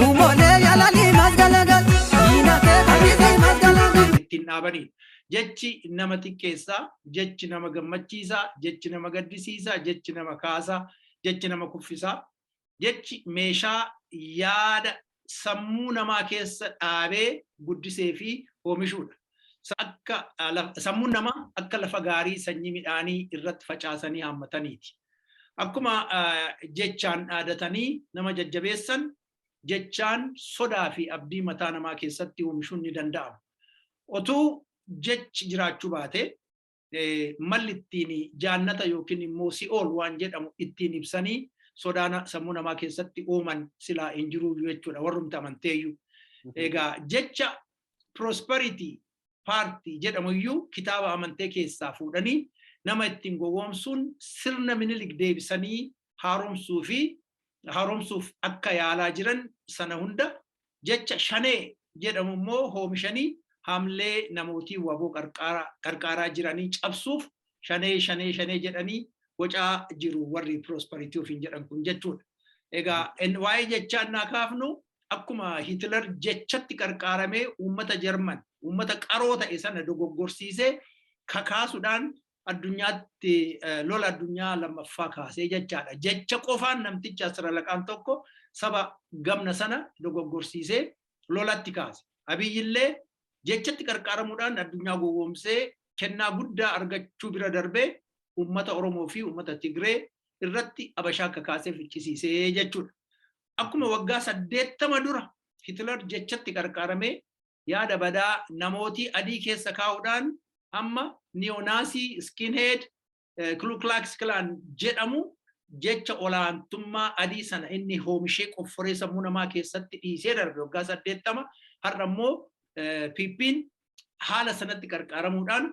Luumolee yalanii mas galagal. Diina kee fayyisii mas galagal. ittiin dhaabaniidha. Jechi nama xiqqeessaa, jechi nama gammachiisaa, jechi nama gaddisiisaa, jechi nama kaasaa, jechi nama kuffisaa, jechi meeshaa yaada sammuu namaa keessa dhaabee guddisee fi oomishuudha. Sammuun namaa akka lafa gaarii sanyii midhaanii irratti facaasanii haammataniiti. Akkuma jechaan dhaadatanii nama jajjabeessan, jechaan sodaa fi abdii mataa namaa keessatti oomishuun ni danda'ama. Otuu jechi jiraachuu baate, malli ittiin jaannata yookiin immoo si'ool waan jedhamu ittiin ibsanii sodaana sammuu namaa keessatti uuman silaa hin jiruu jechuudha warrumti amanteeyyuu. Egaa jecha prosperity party jedhamu iyyuu kitaaba amantee keessaa fuudhanii nama ittiin gowwoomsuun sirna minilik deebisanii haaromsuu fi haaromsuuf akka yaalaa jiran sana hunda jecha shanee jedhamu immoo hoomishanii hamlee namootii waboo qarqaaraa jiranii cabsuuf shanee shanee shanee jedhanii bocaa jiru warri prosperity ofiin jedhan kun jechuudha. Egaa waa'ee jechaa naa kaafnu akkuma Hitler jechatti qarqaaramee uummata Jarman uummata qaroo ta'e sana dogoggorsiisee kakaasuudhaan addunyaatti lola addunyaa lammaffaa kaasee jechaadha. Jecha qofaan namtichi asiralaqaan tokko saba gamna sana dogoggorsiisee lolatti kaase. Abiyyillee jechatti qarqaaramuudhaan addunyaa gowwoomsee kennaa guddaa argachuu bira darbee uummata Oromoo fi uummata Tigree irratti abashaa akka kaasee ficcisiisee jechuudha. Akkuma waggaa saddeettama dura Hitler jechatti qarqaaramee yaada badaa namootii adii keessa kaa'uudhaan amma niyonaasii skinhead kluklaks klaan jedhamu jecha olaantummaa adii sana inni hoomishee qofforee sammuu namaa keessatti dhiisee darbe waggaa saddeettama har'a immoo piippiin haala sanatti qarqaaramuudhaan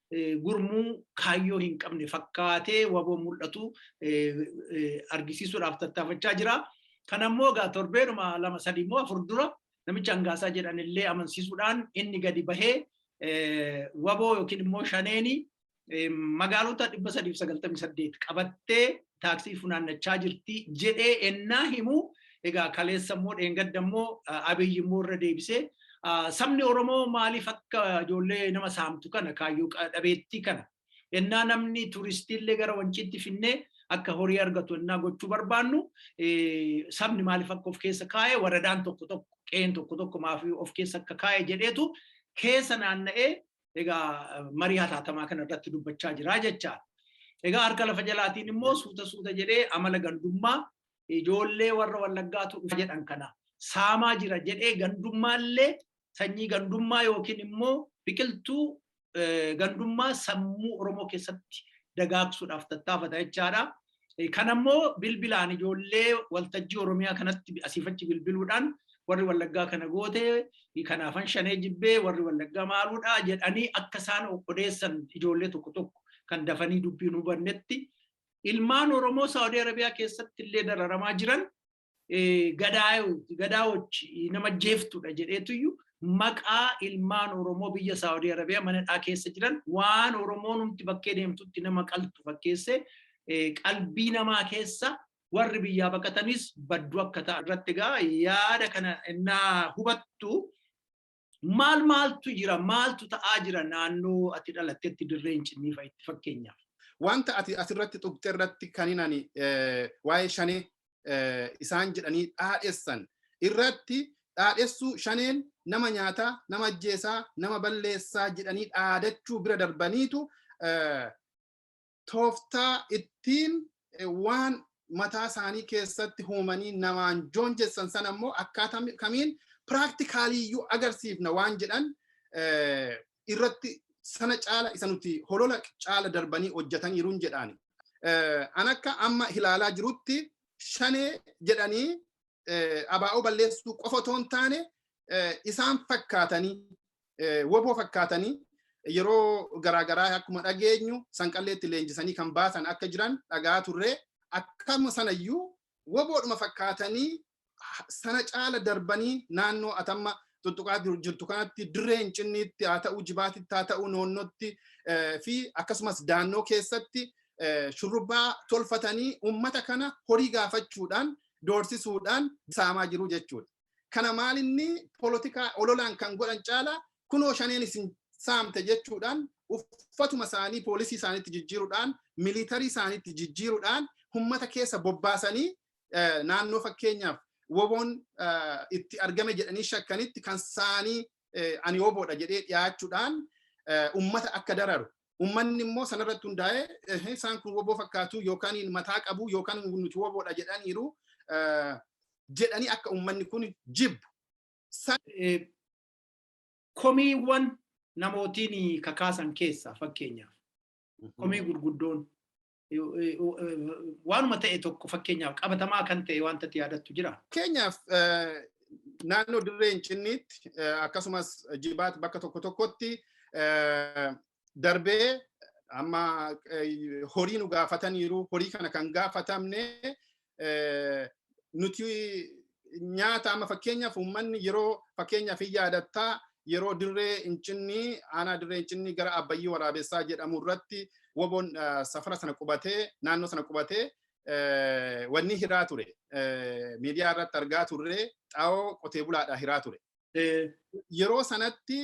gurmuu kaayyoo hin qabne fakkaatee waboo mul'atu argisiisuudhaaf tattaafachaa jira. Kana immoo egaa torbeenuma lama sadii immoo afur dura namicha hangaasaa jedhan illee amansiisuudhaan inni gadi bahee waboo yookiin immoo shaneeni magaalota dhibba sadiif sagaltamii saddeet qabattee taaksii funaannachaa jirti jedhee ennaa himu egaa kaleessa immoo dheengadda immoo abiyyi immoo irra deebisee sabni Oromoo maaliif akka ijoollee nama saamtu kana kaayyoo dhabeettii kana ennaa namni turistiillee gara wanciitti finnee akka horii argatu ennaa gochuu barbaannu sabni maaliif akka of keessa kaa'e waradaan tokko tokko qe'een tokko tokko maaf of keessa akka kaa'e jedheetu keessa naanna'ee egaa marii hataatamaa kana irratti dubbachaa jira jechaa. Egaa harka lafa jalaatiin immoo suuta suuta jedhee amala gandummaa ijoollee warra wallaggaatu dhufa jedhan kana saamaa jira jedhee gandummaallee sanyii gandummaa yookiin immoo biqiltuu gandummaa sammuu Oromoo keessatti dagaagsuudhaaf tattaafata jechaadha. Kan ammoo bilbilaan ijoollee waltajjii Oromiyaa kanatti asiifachi bilbiluudhaan warri wallaggaa kana goote kanaafan shanee jibbee warri wallaggaa maaluudha jedhanii akka isaan odeessan ijoollee tokko tokko kan dafanii dubbiin hubannetti ilmaan Oromoo Saawudii Arabiyaa keessatti illee dararamaa jiran gadaayoti gadaawochi nama jeeftudha jedheetuyyu maqaa ilmaan Oromoo biyya Saawudii Arabiyaa manadhaa keessa jiran waan Oromoon humti bakkee deemtutti nama qaltu fakkeessee qalbii namaa keessa warri biyyaa baqatanis baddu akka ta'an irratti egaa yaada kana innaa hubattu maal maaltu jira maaltu ta'aa jira naannoo ati dhalattetti dirree incinnii fa'itti fakkeenyaaf. Wanta ati asirratti tuqxe irratti kanin ani waa'ee shanee isaan jedhanii dhaadhessan irratti dhaadhessuu shaneen nama nyaataa nama ajjeesaa nama balleessaa jedhanii dhaadachuu bira darbaniitu tooftaa ittiin waan mataa isaanii keessatti huumanii namaan joonjessan sana immoo akkaataa kamiin piraaktikaalii iyyuu agarsiifna waan jedhan irratti sana caala isa nuti holola caala darbanii hojjetaniiruun jedhaani. An akka amma ilaalaa jirutti shanee jedhanii abaa'oo balleessuu qofa otoo hin taane isaan fakkaatanii woboo fakkaatanii yeroo garaagaraa akkuma dhageenyu sanqalleetti leenjisanii kan baasan akka jiran dhagaa turre akkam sanayyuu woboodhuma fakkaatanii sana caala darbanii naannoo atamma tuttuqaa jirtu kanatti dirree hincinniitti haa ta'uu jibaatitti haa ta'uu noonnootti fi akkasumas daannoo keessatti shurrubbaa tolfatanii uummata kana horii gaafachuudhaan doorsisuudhaan saamaa jiru jechuudha. kana maalinni polotikaa ololaan kan godhan caala kunoo shaneen isin saamte jechuudhaan uffatuma isaanii poolisii isaaniitti jijjiiruudhaan miliitarii isaaniitti jijjiiruudhaan ummata keessa bobbaasanii naannoo fakkeenyaaf woboon itti argame jedhanii shakkanitti kan saanii ani woboodha jedhee dhiyaachuudhaan ummata akka dararu Uummanni immoo sanarratti hundaa'ee isaan kun woboo fakkaatu yookaan mataa qabu yookaan nuti woboodha jedhaniiru jedhanii akka uummanni kun jibbu. Komiiwwan namootiin kakaasan keessaa fakkeenyaaf komii gurguddoon waanuma ta'e tokko fakkeenyaaf qabatamaa kan ta'e wanta itti yaadattu jira. Fakkeenyaaf naannoo dirree Incinniitti akkasumas jibaat bakka tokko tokkotti darbee amma horii nu gaafataniiru horii kana kan gaafatamne nuti nyaata amma fakkeenyaaf uummanni yeroo fakkeenyaaf hin yaadattaa yeroo dirree incinnii aanaa dirree incinnii gara abbayyii waraabessaa jedhamu irratti waboon safara sana qubatee naannoo sana qubatee wanni hiraa ture miidiyaa irratti argaa turre xaa'oo qotee bulaadhaa hiraa ture. Yeroo sanatti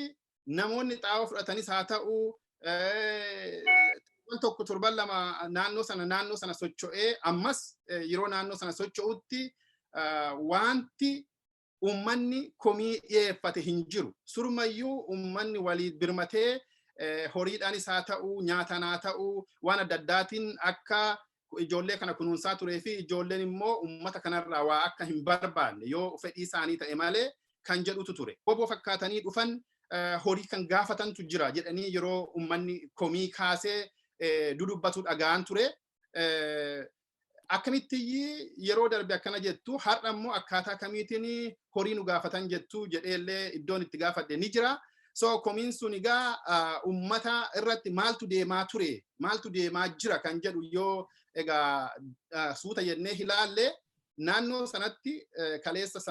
namoonni xaa'oo fudhatanis haa ta'u torban tokko torban lama naannoo sana naannoo sana socho'ee ammas yeroo naannoo sana socho'utti wanti uummanni komii dhiyeeffate hin jiru. Surmayyuu uummanni walii birmatee horiidhaanis haa ta'u nyaataan haa ta'u waan adda addaatiin akka ijoollee kana kunuunsaa turee fi ijoolleen immoo uummata kanarraa waa akka hin barbaanne yoo fedhii isaanii ta'e malee kan jedhutu ture. Woboo fakkaatanii dhufan horii kan gaafatantu jira jedhanii yeroo uummanni komii kaasee dudubbatu dhaga'an ture. Akkamitti yeroo darbe akkana jettu har'a immoo akkaataa kamiitiin horii nu gaafatan jettu jedheellee iddoon itti gaafadhe ni jira. So komiin sun egaa uummata irratti maaltu deemaa ture maaltu deemaa jira kan jedhu yoo egaa suuta jennee ilaalle naannoo sanatti kaleessa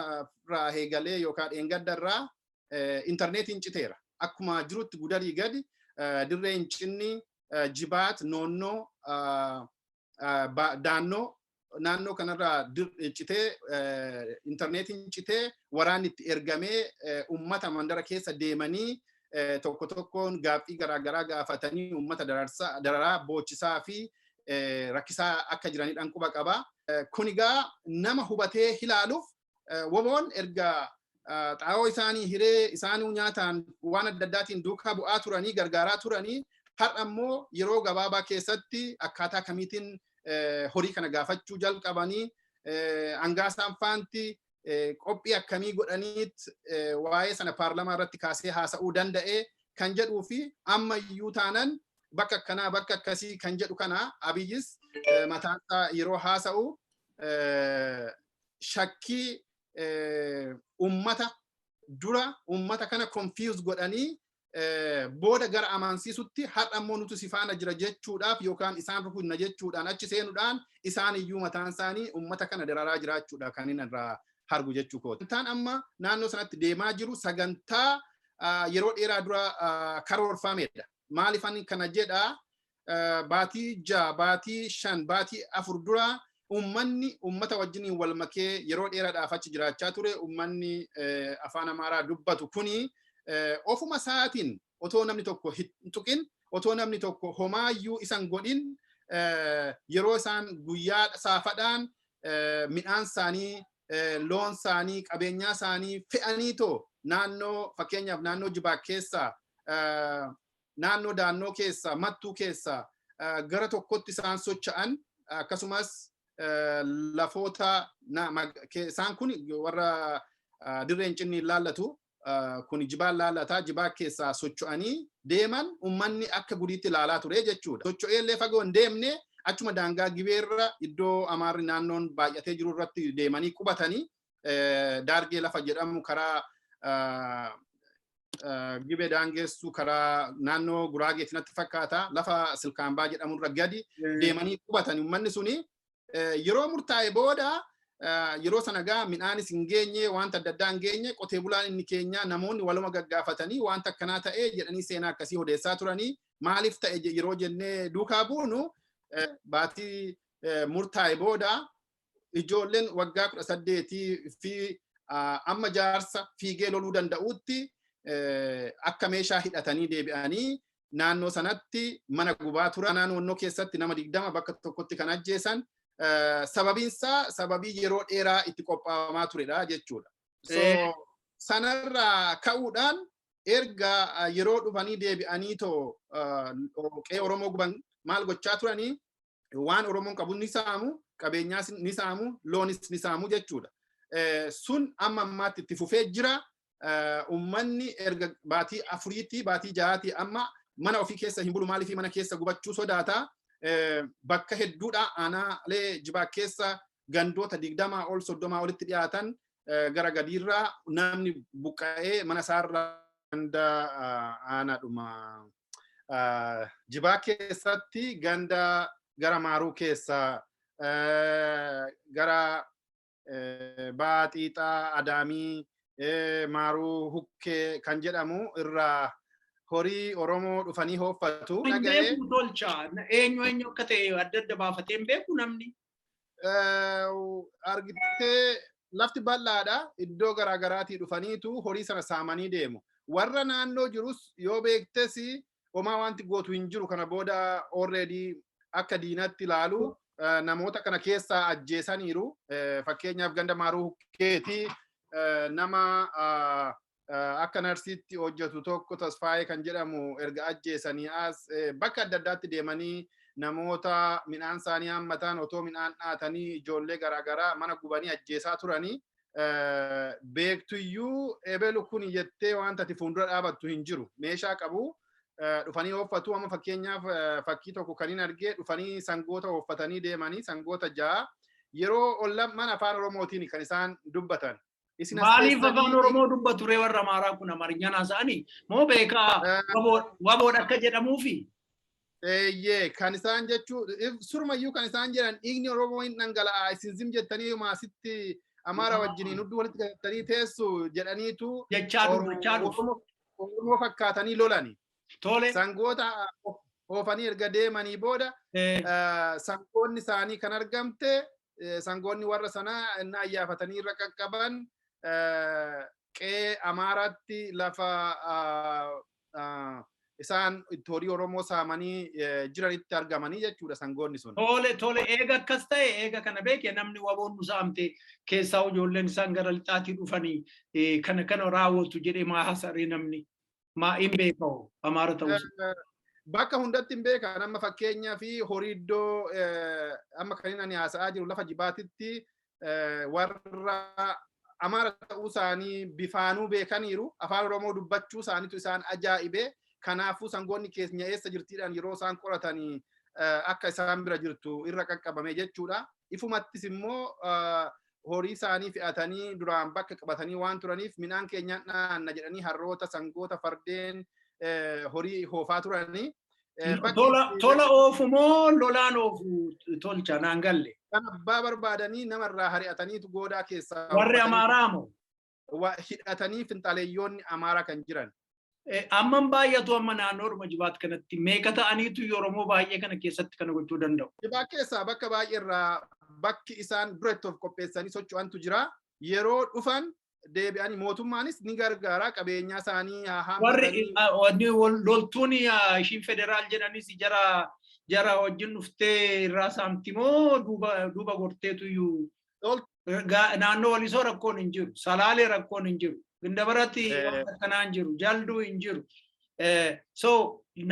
irraa eegalee yookaan dheengadda irraa intarneetiin citeera. Akkuma jirutti gudarii gadi dirreen cinni jibaat noonnoo daannoo naannoo kanarraa citee intarneetiin citee waraanni itti ergamee uummata mandara keessa deemanii tokko tokkoon gaaffii garaagaraa gaafatanii uummata dararaa boochisaa fi rakkisaa akka jiranidhaan quba qaba. Kun egaa nama hubatee ilaaluuf Woboon erga xaa'oo isaanii hiree isaanuu nyaataan waan adda addaatiin duukaa bu'aa turanii gargaaraa turanii har'a immoo yeroo gabaabaa keessatti akkaataa kamiitiin horii kana gaafachuu jalqabanii hangaa isaan faanti qophii akkamii godhaniit waa'ee sana paarlamaa irratti kaasee haasa'uu danda'e kan jedhuu fi amma iyyuu taanan bakka akkanaa bakka akkasii kan jedhu kana abiyyis mataansaa yeroo haasa'u shakkii ummata dura ummata kana confuse godhanii booda gara amansiisutti har'a immoo nuti si faana jira jechuudhaaf yookaan isaan rukunna jechuudhaan achi seenuudhaan isaan iyyuu mataan isaanii ummata kana dararaa jiraachuudha kan inni irraa hargu jechuu kooti. Sagantaan amma naannoo sanatti deemaa jiru sagantaa yeroo dheeraa dura karoorfamedha. Maaliif ani kana jedhaa baatii ja'a baatii shan baatii afur dura ummanni ummata wajjiniin wal makee yeroo dheeraadhaaf achi jiraachaa ture ummanni afaan amaaraa dubbatu kuni ofuma isaatiin otoo namni tokko hin tuqin otoo namni tokko homaayyuu isan godhin yeroo isaan guyyaa saafadhaan midhaan isaanii loon isaanii qabeenyaa isaanii fe'anii too naannoo fakkeenyaaf naannoo jibaa keessaa naannoo daannoo keessaa, Mattuu keessaa gara tokkotti isaan socha'an akkasumas lafoota isaan kun warra dirree hin cinne hin laallatu kun jibaan laallata jibaa keessaa socho'anii deeman ummanni akka gudiitti ilaalaa ture jechuudha. Socho'ee illee fagoo hin deemne achuma daangaa gibeerra iddoo amaarri naannoon baay'atee jiru irratti deemanii qubatanii daargee lafa jedhamu karaa gibee daangeessu karaa naannoo guraageetti natti fakkaata lafa silkaambaa jedhamurra gadi deemanii qubatan uummanni suni yeroo murtaa'e booda yeroo sana gaa midhaanis hin geenye wanta adda addaa hin geenye qotee bulaan inni keenya namoonni waluma gaggaafatanii wanta akkanaa ta'e jedhanii seenaa akkasii odeessaa turanii maaliif ta'e yeroo jennee duukaa buunu baatii murtaa'e booda ijoolleen waggaa kudha saddeetii fi amma jaarsa fiigee loluu danda'uutti akka meeshaa hidhatanii deebi'anii naannoo sanatti mana gubaa turan naannoo keessatti nama digdama bakka tokkotti kan ajjeesan sababiinsaa sababii yeroo dheeraa itti qophaa'amaa turedha jechuudha. Sanarraa ka'uudhaan erga yeroo dhufanii deebi'anii too qe'ee Oromoo guban maal gochaa turanii waan Oromoon qabu ni saamu, qabeenyaas ni saamu, loonis ni saamu jechuudha. Sun amma ammaatti itti fufee jira. Uummanni erga baatii afuriitti baatii jahaatti amma mana ofii keessa hin bulu maaliif mana keessa gubachuu sodaata. Bakka hedduudha aanaalee jibaa keessa gandoota 20 ol 30 olitti dhiyaatan gara gadiirraa namni buqqa'ee mana isaarraa ganda aanaadhuma jibaa keessatti ganda gara maaruu keessa gara ba'aa xiixaa adaamii maaruu hukkee kan jedhamu irraa horii Oromoo dhufanii hooffatu. Hin beeku tolcha. Eenyu eenyu akka ta'e adda adda baafatee hin beeku namni. argittee lafti bal'aadha iddoo garaa garaatii dhufaniitu horii sana saamanii deemu. Warra naannoo jirus yoo beektes homaa wanti gootu hin jiru kana booda already akka diinatti ilaalu namoota kana keessaa ajjeesaniiru. Fakkeenyaaf ganda maaruu hukkeetii nama akka narsiitti hojjetu tokko tasfaayee kan jedhamu erga ajjeesanii as bakka adda addaatti deemanii namoota midhaan isaanii hammatan otoo midhaan dhaatanii ijoollee garaagaraa mana gubanii ajjeesaa turanii beektuyyuu ebelu kun jettee wanta ati fuuldura dhaabattu hin jiru meeshaa qabu dhufanii ooffatu amma fakkeenyaaf fakkii tokko kan hin argee dhufanii sangoota ooffatanii deemanii sangoota ja'a yeroo ollamman afaan oromootiin kan isaan dubbatan Isin as Maaliif keessanii afaan miti. Oromoo dubbatu ree warra Amaaraa kun Amaarinyaan haasa'anii moo beekaa Ah. waboo- waboodha akka jedhamuufi? Eeyyee kan isaan jechuu if- surumayyuu kan isaan jedhan dhiigni Oromoo hin dhangala'aa isin zim jettanii maasitti Amaara wajjiniin hudduu walitti galtanii teessu jedhaniitu Jechaa Oromoo- dubbachaa dhufu. Oromoo Oromoo fakkaatanii lolani. Tole. Sangoota oofanii erga deemanii booda sangoonni isaanii kan argamte sangoonni warra sanaa inni ayyaafatanii irra qaqqaban qe'ee Amaaraatti lafa isaan itti horii Oromoo saamanii jiranitti argamanii jechuudha sangoonni sun. Tole tole eega akkas ta'e eega kana beekee namni waboon nu saamte keessaa ijoolleen isaan gara lixaatii dhufanii kana kana raawwatu jedhee maa haasa'ee namni. maa in beeka hoo amaara ta'uu isaa. Bakka hundatti hin beekan amma fakkeenyaa fi horii iddoo amma kan ani haasa'aa jiru lafa jibaatitti warra amaara ta'uu isaanii bifaanuu beekaniiru afaan oromoo dubbachuu isaaniitu isaan ajaa'ibee kanaafuu sangoonni keenya eessa jirtiidhaan yeroo isaan qoratanii akka isaan bira jirtu irra qaqqabame jechuudha. Ifumattis immoo horii isaanii fe'atanii duraan bakka qabatanii waan turaniif midhaan keenyaan dhaanna jedhanii harroota, sangoota, fardeen eh, horii hoofaa turanii. eh, bakki Tola itti- tola oofu moo lolaan oofu tolcha naan galle. kan abbaa barbaadanii namarraa hari'ataniitu goodaa keessaa. Warri buufatanii- Amaaraa moo? wa hidhatanii finxaleeyyoonni Amaaraa kan jiran. Amman baay'atu amma naannoodhuma jibaat kanatti meeqa ta'aniitu Oromoo baay'ee kana keessatti kana gochuu danda'u. Jibaat keessaa bakka baay'eerraa bakki isaan dura itti of qopheessanii socho'antu jira. Yeroo dhufan deebi'anii mootummaanis ni gargaara qabeenyaa isaanii haammatanii. Warri loltuun ishiin federaal jedhanis jara jara wajjin dhuftee irraa saamti moo duuba gorteetu iyyuu naannoo walisoo rakkoon hin jiru salaalee rakkoon hin jiru gindabaratti akkanaa hin jiru jalduu hin jiru so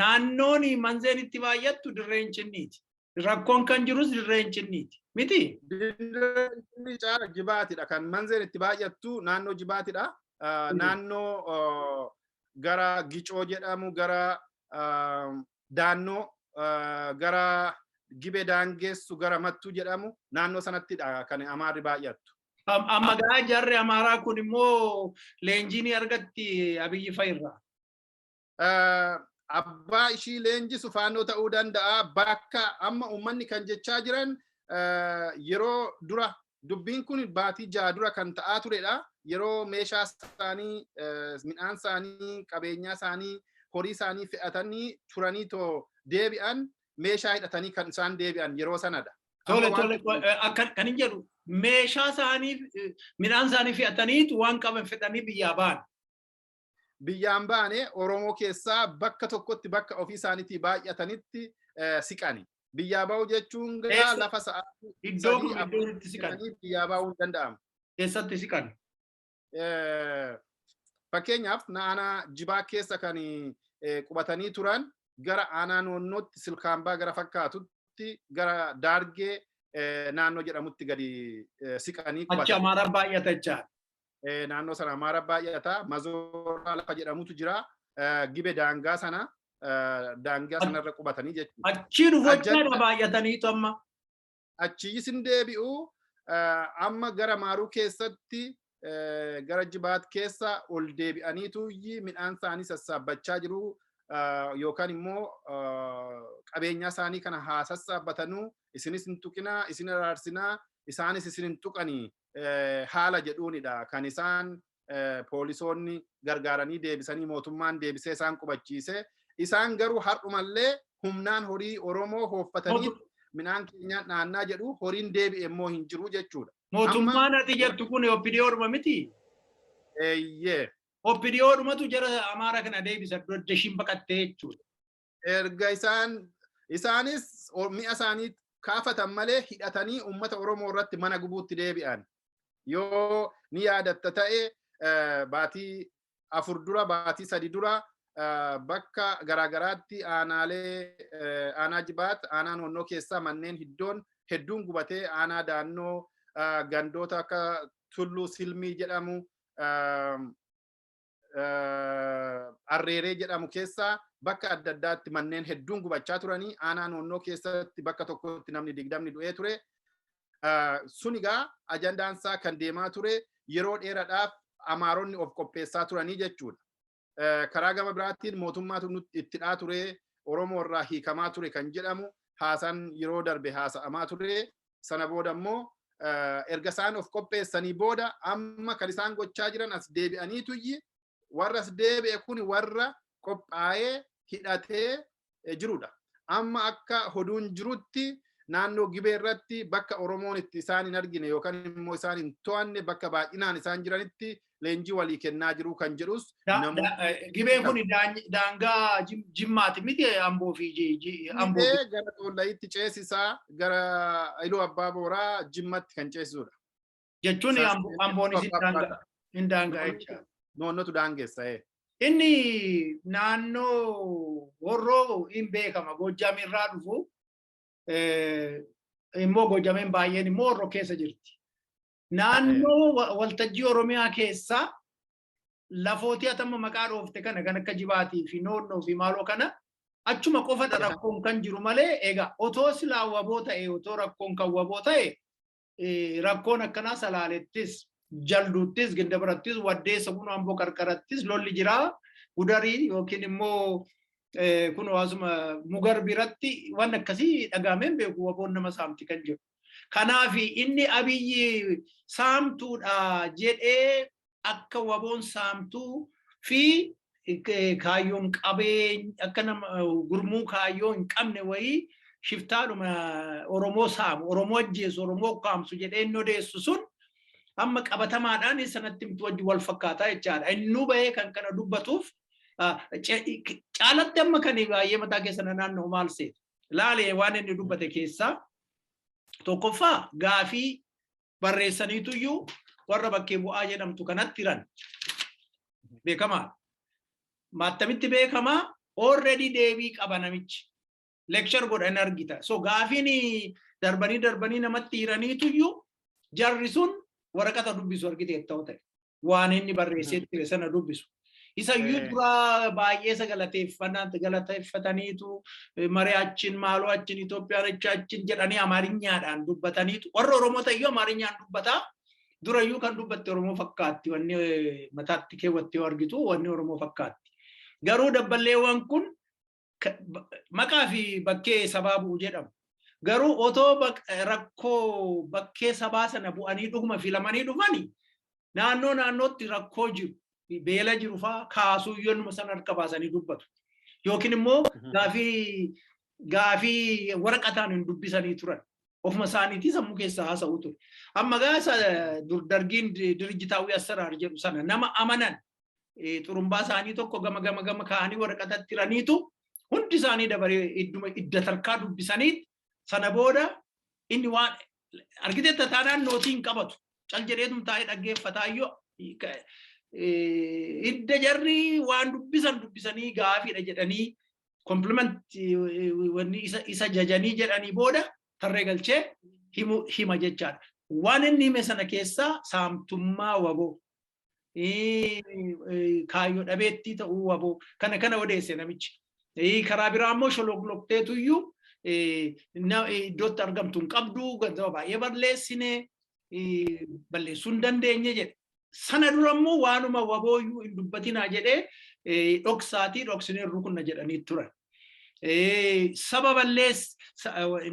naannoon manzeen itti baay'attu dirreen cinniiti rakkoon kan jirus dirreen cinniiti miti. Dirreen caala jibaatidha kan manzeen itti baay'attu naannoo jibaatidha naannoo gara gicoo jedhamu gara daannoo gara gibe daangeessu gara mattuu jedhamu naannoo sanattidha kan amaarri baay'attu. Amma gaa jarri amaaraa kun immoo leenjii ni argatti abiyyi fa'irraa. Abbaa ishii leenjisu faannoo ta'uu danda'a bakka amma uummanni kan jechaa jiran yeroo dura Dubbiin kun baatii ja'a dura kan ta'aa turedha. Yeroo meeshaa isaanii, midhaan isaanii, qabeenyaa isaanii, horii isaanii fe'atanii turanii too deebi'an meeshaa hidhatanii kan isaan deebi'an yeroo sanadha. Tole tole akka kan hin jedhu meeshaa isaanii midhaan isaanii fe'ataniitu waan qaban fedhanii biyyaa ba'an. biyyaan baane Oromoo keessaa bakka tokkotti bakka ofii isaaniitii baay'atanitti siqani. Biyyaa ba'uu jechuun gaa lafa sa'aatii iddoo kun iddoo itti siqan biyyaa ba'uu hin danda'amu. Keessatti siqan. Fakkeenyaaf aanaa jibaa keessa kan qubatanii turan gara aanaa noonnootti silkaambaa gara fakkaatutti gara daargee naannoo jedhamutti gadi siqanii qubatan. Achi Amaaraa baay'atachaa. naannoo sana Amaara baay'ata. Mazooraa lafa jedhamutu jira. Gibe daangaa sana daangaa sanarra qubatanii jechuudha. Achii dhufu jechaadha baay'ataniitu amma. Achiis hin deebi'u. Amma gara Maaruu keessatti gara Jibaat keessa ol deebi'aniitu midhaan isaanii sassaabbachaa jiru. Yookaan immoo qabeenyaa isaanii kana haa sassaabatanuu isinis hin tuqinaa isin araarsinaa isaanis isin hin tuqanii haala jedhuunidha kan isaan poolisoonni gargaaranii deebisanii mootummaan deebisee isaan qubachiise. Isaan garuu har'umallee humnaan horii Oromoo hooffatanii midhaan keenyaan dhaannaa jedhu horiin deebi'e immoo hin jiru jechuudha. Mootummaan ati jettu kun OPDO dhuma miti? Eeyyee. OPDO dhumatu jara Amaaraa kana deebisa dodda ishiin baqattee jechuudha. erga isaan isaanis o- mi'a isaanii kaafatan malee hidhatanii uummata Oromoo irratti mana gubuutti deebi'an. Yoo ni yaadatta ta'e eh, baatii afur dura baatii sadi dura eh, bakka garaagaraatti aanaalee eh, aanaa jibaat aanaa noonnoo keessaa manneen hiddoon hedduun gubatee aanaa daannoo eh, gandoota akka tulluu silmii jedhamu eh, Arreeree jedhamu keessaa bakka adda addaatti manneen hedduun gubachaa turanii aanaa noonnoo keessatti bakka tokkotti namni digdamni du'ee ture. Sun egaa ajandaan isaa kan deemaa ture yeroo dheeraadhaaf amaaronni of qopheessaa turanii jechuudha. Karaa gama biraatiin mootummaatu nutti itti dhaa ture Oromoo irraa hiikamaa ture kan jedhamu haasaan yeroo darbe haasa'amaa ture sana booda immoo erga isaan of qopheessanii booda amma kan isaan gochaa jiran as deebi'anii tuyyi warra as deebi'e kun warra qophaa'ee hidhatee jirudha. Amma akka hoduun jirutti naannoo gibee irratti bakka Oromoon itti isaan hin argine yookaan immoo isaan hin to'anne bakka baay'inaan isaan jiranitti leenjii walii kennaa jiru kan jedhus Gibeen kun daangaa jimmaati miti amboo fi amboo. Gara Xoollayitti ceesisaa gara Iluu Abbaa Booraa jimmatti kan ceesisudha. Jechuun amboonis hin daangaa jecha. Noonnotu daangeessa. Inni naannoo horroo hin beekama Goojjam irraa dhufu immoo Goojjameen baay'een immoo horroo keessa jirti. Naannoo wa- waltajjii Oromiyaa keessaa lafootii atamma maqaa dhoofte kana kan akka jibaatii fi noonnoo fi maaloo kana achuma qofadha rakkoon kan jiru malee egaa otoo silaa waboo ta'e otoo rakkoon kan waboo ta'e eh, rakkoon akkanaa salaalettis jalduuttis ginda birattis waddeessa kun amboo qarqarattis lolli jiraa gudarii yookiin immoo eh, kun hawaasuma mugar biratti waan akkasii dhagaameen beeku waboon nama saamti kan jiru. Kanaaf inni Abiyyi saamtuudha jedhee akka waboon saamtuu fi kaayyoon qabee akka nama gurmuu kaayyoo hin qabne wayii shiftaadhuma Oromoo saamu, Oromoo ajjeesu, Oromoo ukkaamsu jedhee inni odeessu sun amma qabatamaadhaan sanatti miti wajji wal fakkaataa jechaadha. Innuu bahee kan kana dubbatuuf caalatti amma kan baay'ee mataa keessa na naanna'u maal seeta? Laalee waan inni dubbate keessaa tokkoffaa gaafii barreessaniitu iyyuu warra bakkee bu'aa jedhamtu kanatti hiran beekamaa maattamitti beekamaa already deebii qaba namichi lecture godha hin argita so gaafiin darbanii darbanii namatti hiraniitu iyyuu jarri sun waraqata dubbisu argiteetta ta'e waan inni barreessee ture sana dubbisu. Isa iyyuu Eh. dura baay'ee isa galateeffannaan galateeffataniitu eh, maree achiin maaloo achiin Itoophiyaan achi achiin jedhanii Amaariyyaadhaan dubbataniitu. Warra Oromoo ta'eyyuu Amaariyyaan dubbataa durayyuu kan dubbatte Oromoo fakkaatti wanni eh, mataatti keewwattee yoo argitu wanni Oromoo fakkaatti. Garuu dabballeewwan kun maqaa fi bakkee sabaa bu'u jedhamu. Garuu otoo rakkoo bakkee sabaa sana bu'anii dhuguma filamanii dhufani naannoo naannootti rakkoo jiru beela jiru fa'aa kaasuu yoonuma sana harka baasanii dubbatu. Yookiin immoo gaafii gaafii waraqataan hin dubbisanii turan. Ofuma isaaniitii sammuu keessaa haasa'u ture. Amma gaasa dargiin dirijitaawwii assaraar jedhu sana nama amanan xurumbaa isaanii tokko gama gama gama kaa'anii waraqatatti hiraniitu hundi isaanii dabaree idduma idda tarkaa dubbisanii sana booda inni waan argitee tataanaan nootii hin qabatu cal jedheetum taa'ee dhaggeeffataa yoo idda jarri waan dubbisan dubbisanii gaafiidha jedhanii kompliment wanni isa isa jajanii jedhanii booda tarree galchee himu hima jechaadha. Waan inni hime sana keessaa saamtummaa waboo kaayyoo dhabeettii ta'uu waboo kana kana odeesse namichi. Karaa biraa immoo sholoqloqteetu iyyuu iddootti argamtu hin qabdu gantama baay'ee balleessine balleessuu hin dandeenye jedhe. Sana dura immoo waanuma waboo iyyuu hin dubbatinaa jedhee dhoksaatii dhoksinee rukunna jedhanii turan. Saba balleess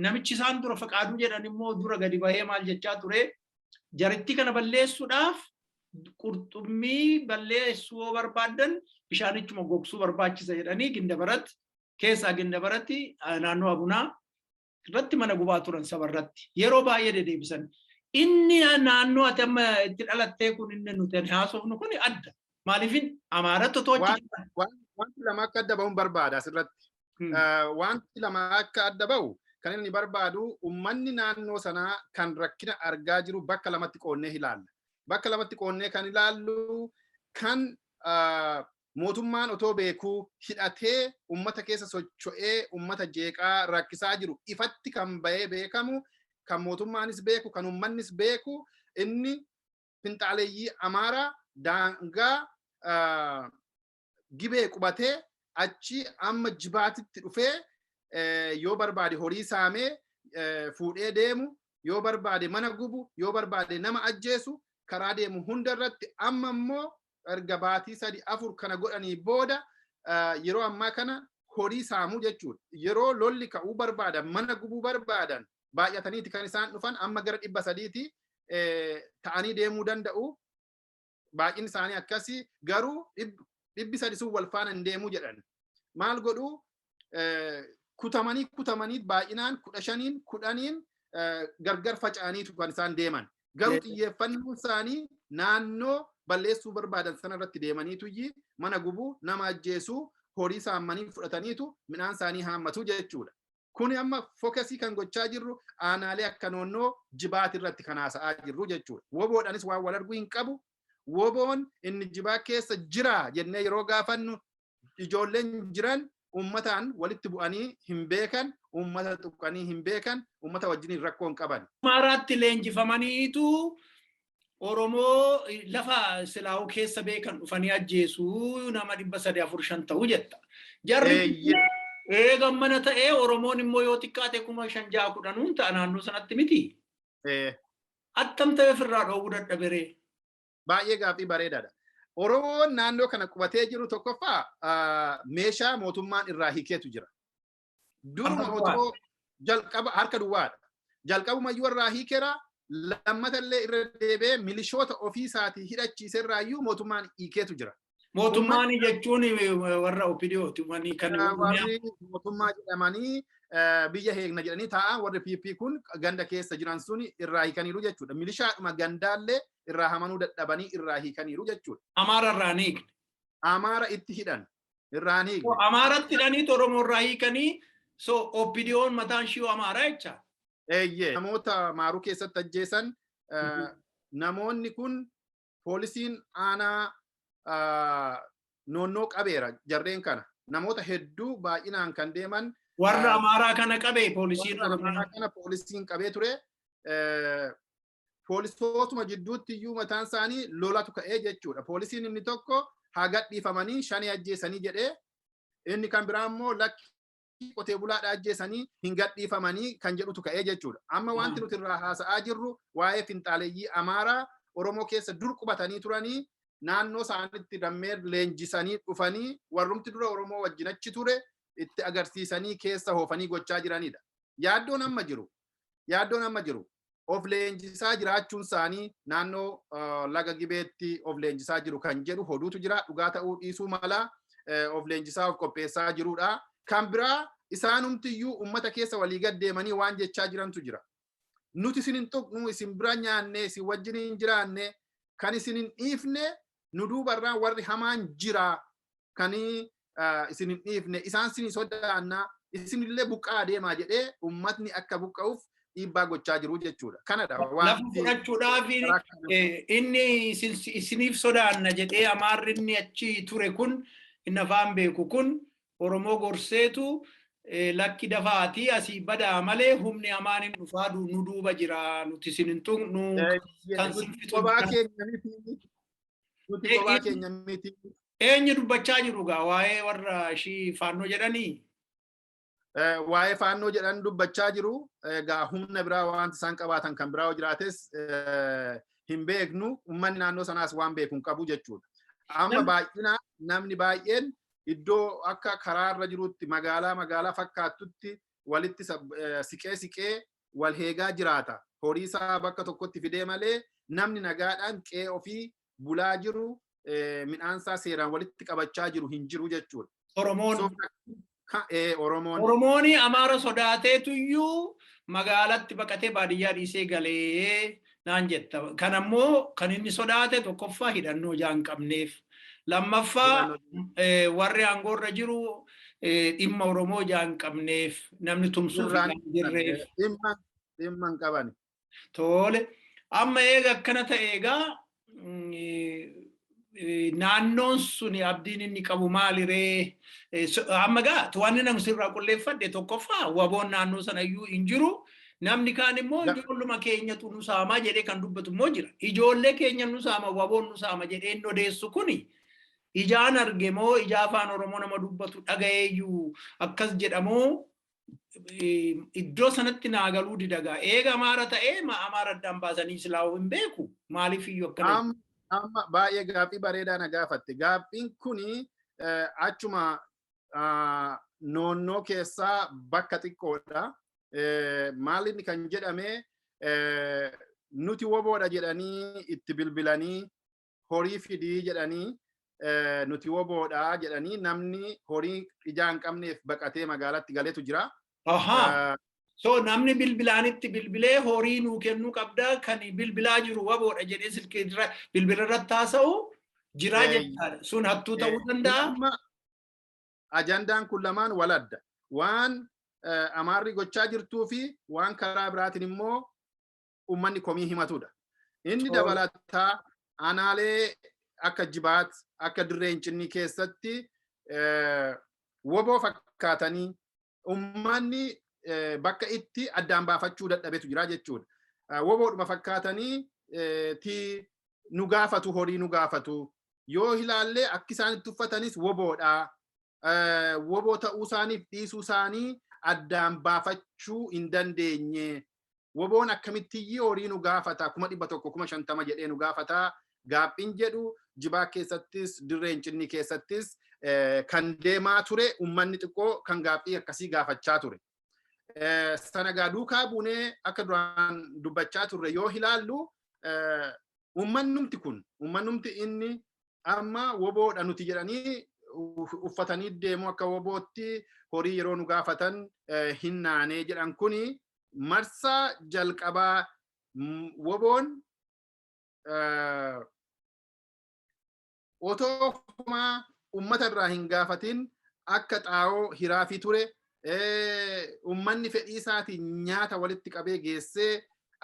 namichi isaan dura faqaaduu jedhan immoo dura gadi bahee maal jechaa ture Jarittii kana balleessuudhaaf qurxummii balleessuu yoo barbaadan bishaanichuma gogsuu barbaachisa jedhanii gindabarat keessaa gindabaratti naannoo abunaa irratti mana gubaa turan saba irratti yeroo baay'ee dedeebisan. Inni naannoo ati amma itti dhalattee kun inni nuti haasofnu kun adda. Maaliifin Amaarattu otoo achi jira. Wanti lama akka adda bahuun barbaada asirratti. Wanti lama akka adda bahu kan inni barbaadu uummanni naannoo sanaa kan rakkina argaa jiru bakka lamatti qoonnee ilaalla. Bakka lamatti qoonnee kan ilaallu kan mootummaan otoo beekuu hidhatee uummata keessa socho'ee uummata jeeqaa rakkisaa jiru ifatti kan bahee beekamu kan mootummaanis beeku kan uummannis beeku inni finxaaleeyyii Amaaraa daangaa gibee qubatee achi amma jibaatitti dhufee yoo barbaade horii saamee fuudhee deemu yoo barbaade mana gubu yoo barbaade nama ajjeesu karaa deemu hunda irratti amma immoo erga baatii sadi afur kana godhanii booda yeroo ammaa kana horii saamuu jechuudha. Yeroo lolli ka'uu barbaadan mana gubuu barbaadan baay'ataniiti kan isaan dhufan amma gara dhibba sadiiti ta'anii deemuu danda'u. Baay'inni isaanii akkasii garuu dhibbi sadi sun wal faana hin deemuu jedhan. Maal godhuu kutamanii kutamanii baay'inaan kudha shaniin kudhaniin gargar faca'aniitu kan isaan deeman. Garuu xiyyeeffannoon isaanii naannoo balleessuu barbaadan sana irratti deemaniitu mana gubuu nama ajjeesuu horii saammanii fudhataniitu midhaan isaanii haammatu jechuudha. Kuni amma fokasii kan gochaa jirru aanaalee akka noonnoo jibaati irratti kan haasa'aa jirru jechuudha. Woboodhanis waan wal arguu hin qabu Woboon inni jibaa keessa jiraa jennee yeroo gaafannu ijoolleen jiran uummataan walitti bu'anii hin beekan, uummata tuqanii hin beekan, uummata wajjiniin rakkoo hin qaban. Amaaraatti leenjifamaniitu Oromoo lafa silaa'uu keessa beekan dhufanii ajjeesu nama dhibba sadii afur shan ta'u jetta. Jarri Eeyyee. eega mana ta'ee Oromoon immoo yoo xiqqaate kuma shan ja'a kudhanuun ta'a naannoo sanatti miti. Eh, Attam ta'ee ofirraa dhoowwuu dadhabe ree? Baay'ee gaaffii bareedaadha. Oromoon naannoo kana qubatee jiru tokkoffaa meeshaa mootummaan irraa hiikeetu jira. Duruma otoo jalqaba harka duwwaadha. Jalqabuma iyyuu irraa hiikeera lammata illee irra deebi'ee milishoota ofii isaatii hidhachiise irraa iyyuu mootummaan hiikeetu jira. Mootummaan jechuun warra OPDOti wani kan warri mootummaa jedhamanii biyya heegna jedhanii taa'an warri PP kun ganda keessa jiran sun irraa hiikaniiru jechuudha. Milishaadhuma gandaallee irraa hamanuu dadhabanii irraa hiikaniiru jechuudha. Amaara irraa ni hiikne. Amaara itti hidhan irraa ni hiikne. Amaaratti hidhanii Oromoo irraa hiikanii so OPDOn mataan shiyoo Amaara jecha. Eeyyee namoota maaruu keessatti ajjeesan namoonni kun poolisiin aanaa noonnoo qabeera jarreen kana namoota hedduu baay'inaan kan deeman warra amaaraa kana qabee poolisiin amaaraa kana poolisiin qabee ture poolisootuma jidduutti iyyuu mataan isaanii lolatu ka'ee jechuudha poolisiin inni tokko haa gadhiifamanii shanii ajjeesanii jedhee inni kan biraa immoo lakki maatii qotee bulaadha ajjeesanii hin gadhiifamanii kan jedhutu ka'ee jechuudha. Amma wanti nuti irraa haasa'aa jirru waa'ee finxaaleyyii Amaaraa Oromoo keessa dur qubatanii turanii naannoo isaanitti dammee leenjisanii dhufanii warrumti dura Oromoo wajjin achi ture itti agarsiisanii keessa hoofanii gochaa jiranidha. Yaaddoon amma jiru Yaaddoon amma jiru of leenjisaa jiraachuun isaanii naannoo laga gibeetti of leenjisaa jiru kan jedhu hoduutu jira dhugaa ta'uu dhiisuu mala of leenjisaa of qopheessaa jirudha. Kan biraa isaanumtiyyuu ummata keessa walii gad deemanii waan jechaa jirantu jira. Nuti isin hin tuqnu isin bira nyaanne isin wajjin hin jiraanne kan isin hin dhiifne nu duubarraan warri hamaan jira kan isin hin dhiifne isaan sin sodaanna isinillee buqqaa adeemaa jedhee ummatni akka buqqa'uuf dhiibbaa gochaa jiru jechuudha. Kanadha Lafa fudhachuudhaaf inni isiniif sodaanna jedhee amaarri inni achi ture kun inni afaan beeku kun Oromoo gorseetu lakki dafaatii asii badaa malee humni amaan hin dhufaa nu duuba jira nuti isin hin tuqnu kan sin fixu. Nuti Ee, kophaa ee. keenya miti. Eenyu dubbachaa jiru gaa waa'ee warra ishii faannoo jedhanii? Eh, Waa'ee faannoo jedhan dubbachaa jiru. Egaa humna biraa wanti isaan qabaatan kan biraa yoo jiraates eh, hin beeknu. Uummanni naannoo sanaas waan beeku hin qabu jechuudha. Amma Nam- baay'inaan namni baay'een iddoo akka karaarra jirutti magaalaa magaalaa fakkaattutti walitti sab- eh, siqee siqee wal heegaa jiraata. Horii isaa bakka tokkotti fidee malee namni nagaadhaan qe'ee ofii bulaa jiru midhaan isaa seeraan walitti qabachaa jiru hin jiru jechuudha. Oromoon. Oromoon. Oromoon Amaara sodaateetuyyuu magaalatti baqatee baadiyyaa dhiisee galee naan jetta. Kan ammoo kan inni sodaate tokkoffaa hidhannoo ijaa hin qabneef. Lammaffaa eh, warri aangoo irra jiru eh, dhimma Oromoo ijaa hin qabneef namni tumsuuf ijaa hin jirreef. Dhimma dhimma hin qaban. Tole. Amma eega akkana ta'e egaa mm, naannoon suni abdiin inni qabu maaliree amma gaa wanni namni sirraa qulleeffadhe tokkoffaa waboon naannoo sana iyyuu hin jiru namni kaan immoo ijoolluma keenyatu nu saamaa jedhee kan dubbatu immoo jira ijoollee keenya nu saama waboon nu saama jedhee inni odeessu kuni ijaan arge moo ijaa afaan oromoo nama dubbatu dhagayeeyyuu akkas jedhamoo iddoo sanatti naa galuu didagaa eega amaara ta'ee ma amaara addaan baasanii silaa'uu hin beeku maaliif iyyuu akkana Am- Amma baay'ee gaaffii bareedaa na gaafatte. Gaaffiin kuni eh, achuma ah, noonnoo keessaa bakka xiqqoodha. Eh, Maaliin kan jedhame eh, nuti woboodha jedhanii itti bilbilanii horii fidii jedhanii nuti woboodha jedhanii namni horii ijaa hin qabneef baqatee magaalatti galetu jira. Ahaa. So namni bilbilaanitti bilbilee horii nuu kennuu qabda kan bilbilaa jiru waboodha jedhee silkii irra bilbila irratti haasa'u jiraa Eeyy. jechaadha. Sun hattuu ta'uu Eh, danda'a. amma Ajandaan kun lamaan wal adda. Waan eh, Amaarri gochaa jirtuu fi waan karaa biraatiin immoo uummanni komii himatudha. Inni dabalataa aanaalee akka jibaat akka dirree incinnii keessatti woboo fakkaatanii uummanni bakka itti addaan baafachuu dadhabetu jira jechuudha. Woboodhuma fakkaatanii ti nu gaafatu horii nu gaafatu yoo ilaallee akki isaan itti uffatanis woboodha. Woboo ta'uu isaaniif dhiisuu isaanii addaan baafachuu hin dandeenye Woboon akkamittiyyii horii nu gaafata kuma dhibba tokko kuma shantama jedhee nu gaafata gaaffiin jedhu jibaa keessattis dirree incinnii keessattis kan deemaa ture ummanni xiqqoo kan gaaffii akkasii gaafachaa ture. Sana gaa duukaa buunee akka duraan dubbachaa turre yoo ilaallu ummannumti kun ummannumti inni amma woboodha nuti jedhanii uffatanii deemu akka wobootti horii yeroo nu gaafatan hin naanee jedhan kuni marsaa jalqabaa woboon otoo homaa ummata irraa hin gaafatin akka xaa'oo hiraafii ture ummanni fedhii isaatiin nyaata walitti qabee geessee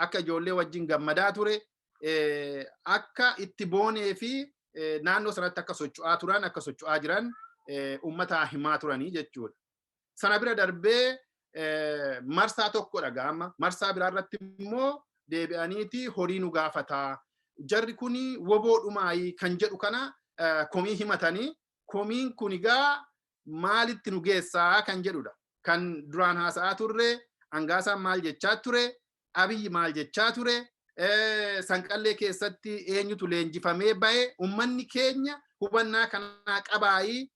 akka ijoollee wajjin gammadaa ture akka itti boonee fi naannoo sanatti akka socho'aa turan akka socho'aa jiran uummataa himaa turanii jechuudha. Sana bira darbee marsaa tokkodha gaama. Marsaa biraa irratti immoo deebi'aniiti horii nu gaafataa. Jarri kun woboo dhumaayii kan jedhu kana komii himatanii komiin kun egaa maalitti nu geessaa kan jedhudha. Kan duraan haasa'aa turre Angaasaan maal jechaa ture, Abiyyi maal jechaa ture, sanqallee keessatti eenyutu leenjifamee ba'e, uummanni keenya hubannaa kanaa qabaayii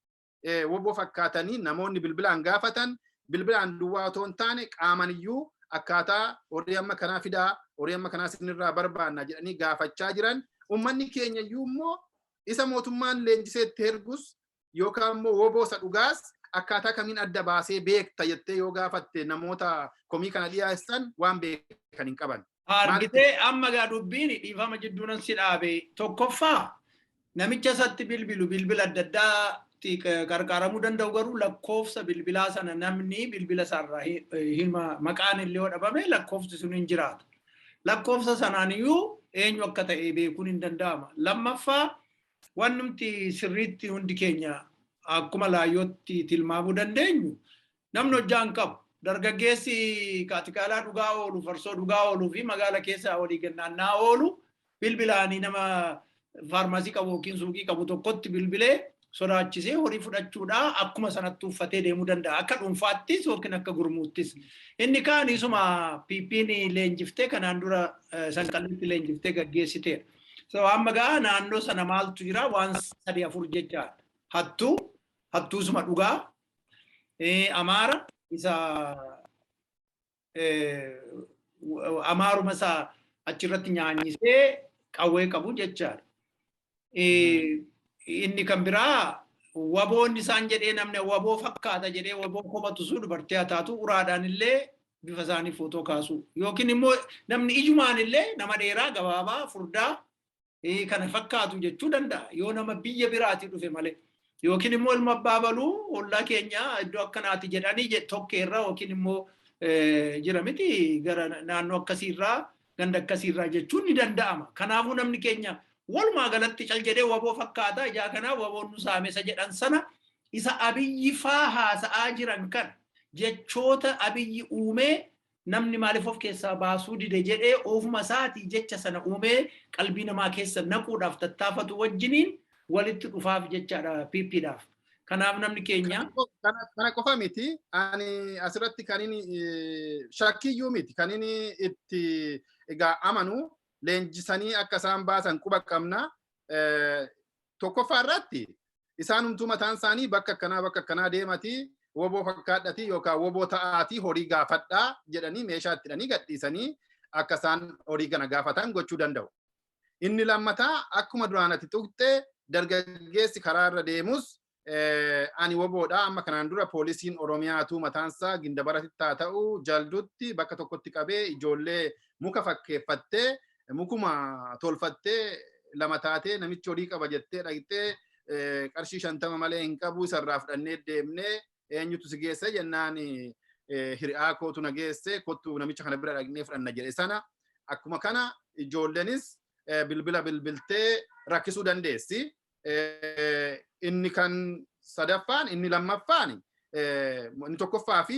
woboo fakkaatanii namoonni bilbilaan gaafatan bilbilaan duwwaa otoo hin taane qaaman iyyuu akkaataa horii amma kanaa fidaa horii amma kanaa sinirraa barbaanna jedhanii gaafachaa jiran uummanni keenya iyyuu immoo isa mootummaan leenjisee itti ergus yookaan immoo woboo isa dhugaas akkaataa kamiin adda baasee beekta jettee yoo gaafatte namoota komii kana dhiyeessan waan beekan hin qaban. Argitee amma gaa dubbiin dhiifama jidduunan si dhaabe tokkoffaa namicha isatti bilbilu bilbila adda addaatti qarqaaramuu danda'u garuu lakkoofsa bilbilaa sana namni bilbila isaarraa hima maqaan illee yoo dhabame lakkoofsi sun hin jiraatu. Lakkoofsa sanaan iyyuu eenyu akka ta'e beekuun hin danda'ama. Lammaffaa Wannumti sirriitti hundi keenya akkuma laayyootti tilmaamuu dandeenyu namni hojjaa hin qabu. Dargaggeessi kaatikaalaa dhugaa oolu, farsoo dhugaa ooluu fi magaala keessa walii gannaannaa oolu bilbilaanii nama faarmaasii qabu yookiin suuqii qabu tokkotti bilbilee sodaachisee horii fudhachuudhaa akkuma sanatti uffatee deemuu danda'a. Akka dhuunfaattis yookiin akka gurmuuttis. Inni kaan isuma PP'n leenjiftee kanaan dura sanqallitti leenjiftee gaggeessiteedha. So amma gaa naannoo sana maaltu jira waan sadii afur jecha hattuu hattuusuma dhugaa amaara isa amaaruma isa achirratti nyaanyisee qawwee qabu jechaadha. Inni kan biraa waboon isaan jedhee namni waboo fakkaata jedhee waboo komatu sun dubartii haa taatu uraadhaan illee bifa isaanii footoo kaasuu yookiin immoo namni ijumaan illee nama dheeraa gabaabaa furdaa kana fakkaatu jechuu danda'a yoo nama biyya biraatii dhufe malee yookiin immoo ilma abbaa baluu ollaa keenya iddoo akkanaati jedhanii tokkeerra yookiin immoo jira miti gara naannoo akkasiirraa ganda akkasiirraa jechuun ni danda'ama kanaafuu namni keenya walumaa galatti cal jedhee waboo fakkaata ijaa kanaa waboon nu saamesa jedhan sana Isa Abiyyi faa haasa'aa jiran kana jechoota Abiyyi uumee namni maaliif of keessaa baasuu dide jedhee ofuma isaatii jecha sana uumee qalbii namaa keessa naquudhaaf tattaafatu wajjiniin walitti dhufaaf jechaadha PPdhaaf. Kanaaf namni keenya Kana qofa miti ani asirratti kan inni shakkiyyuu miti kan inni itti egaa amanu leenjisanii akka isaan baasan quba qabna. tokkoffaa irratti isaanumtuu mataan isaanii bakka akkanaa bakka akkanaa deematii woboo fakkaadhatii yookaan woboo ta'aatii horii gaafadhaa jedhanii meeshaa itti hidhanii gadhiisanii akka isaan horii kana gaafatan gochuu danda'u. Inni lammataa akkuma duraan ati tuqxee dargaggeessi karaa irra deemus ani woboodha amma kanaan dura poolisiin oromiyaatu mataansaa gindabaratitti haa ta'u jaldutti bakka tokkotti qabee ijoollee muka fakkeeffattee mukuma tolfattee lama taatee namichi horii qaba jettee dhaqxee qarshii shantama malee hin qabu isarraa fudhannee deemnee eenyutu si geesse jennaan hiriyaa kootu na geesse kottu namicha kana bira dhaqnee fudhanna jedhe sana akkuma kana ijoollenis bilbila bilbiltee rakkisuu dandeessi. Inni kan sadaffaan inni lammaffaan inni tokkoffaa fi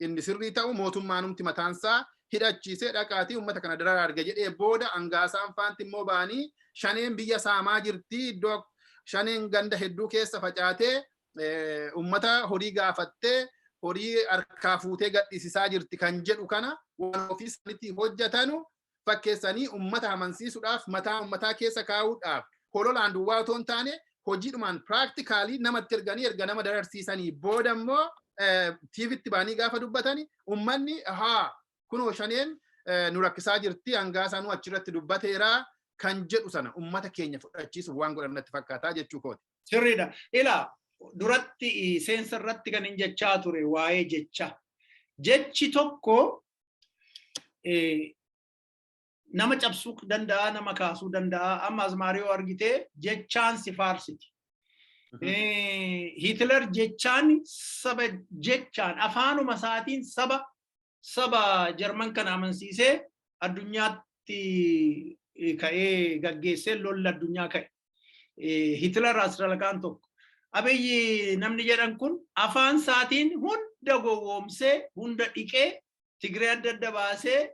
inni sirrii ta'u mootummaanumti mataansaa hidhachiisee dhaqaatii uummata kana dararaa arga jedhee booda angaasaan faanti immoo ba'anii shaneen biyya saamaa jirti iddoo shaneen ganda hedduu keessa facaatee uummata horii gaafattee horii harkaa fuutee gadhiisisaa jirti kan jedhu kana waan ofii isaaniitii hojjetanu fakkeessanii ummata amansiisuudhaaf mataa ummataa keessa kaa'uudhaaf hololaan duwwaa otoo hin taane hojiidhumaan practically namatti erganii erga nama dararsiisanii booda immoo TVtti baanii gaafa dubbatani ummanni haa kunoo shaneen eh, nu rakkisaa jirti hangaasaa nu achirratti dubbateera kan jedhu sana ummata keenya fudhachiisuuf waan godhan natti fakkaataa jechuu kooti. Sirriidha. Ilaa duratti eh, seensa irratti kan hin jechaa ture waa'ee jecha. Jechi tokko nama cabsuu danda'a nama kaasuu danda'a amma azmaariyoo argitee jechaan si faarsiti. Hitler jechaan saba jechaan afaanuma isaatiin saba saba Jarman kana amansiisee addunyaatti ka'ee gaggeessee lolli addunyaa ka'e. Hitler Asralakaan tokko. Abiyyi namni jedhan kun afaan isaatiin hunda gowwoomsee hunda dhiqee Tigree adda adda baasee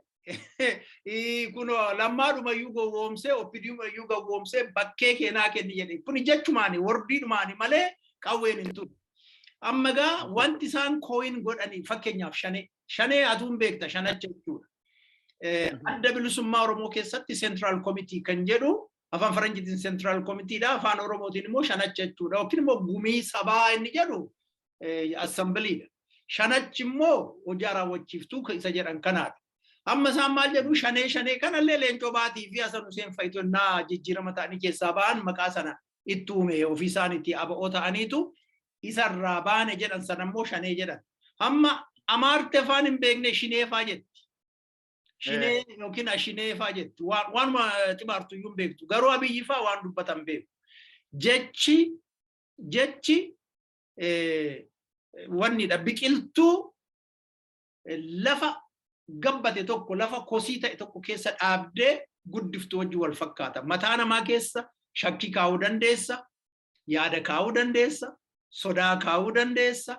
kun lammaadhumayyuu gowwoomsee oppidiimayyuu gowwoomsee bakkee keenaa kenni jedhe kun jechumaani wordiidhumaani malee qawween hin turu. Amma egaa wanti isaan kooyin godhanii fakkeenyaaf shanee shanee atuun beekta shanacha jechuudha. Adda bilisummaa Oromoo keessatti seentiraal komitii kan jedhu Afaan Faranjiitiin Central Committee dha. Afaan Oromootiin immoo shanacha jechuudha. Yookiin immoo gumii sabaa inni jedhu assembly dha. Shanachi immoo hojii raawwachiiftuu isa jedhan kanaadha. Amma isaan maal jedhu shanee shanee kanallee leencoo baatii fi Hasan Huseen fa'itu innaa jijjiirama ta'anii keessaa ba'an maqaa sana itti uume ofii isaaniitii aba'oo ta'aniitu isarraa baane jedhan sana immoo shanee jedhan. Amma amaarte afaan hin beekne shineefaa jetti. Shinee yookiin ashinee faa jetti. Waan- Waanuma xibaartu iyyuu hin beektu. Garuu abiyyi faa waan dubbatan beeku. Jechi jechi eh, wannidha biqiltuu eh, lafa gabbate tokko lafa kosii ta'e tokko keessa dhaabdee guddiftu wajjin wal fakkaata. Mataa namaa keessa shakkii kaa'uu dandeessa, yaada kaa'uu dandeessa, sodaa kaa'uu dandeessa,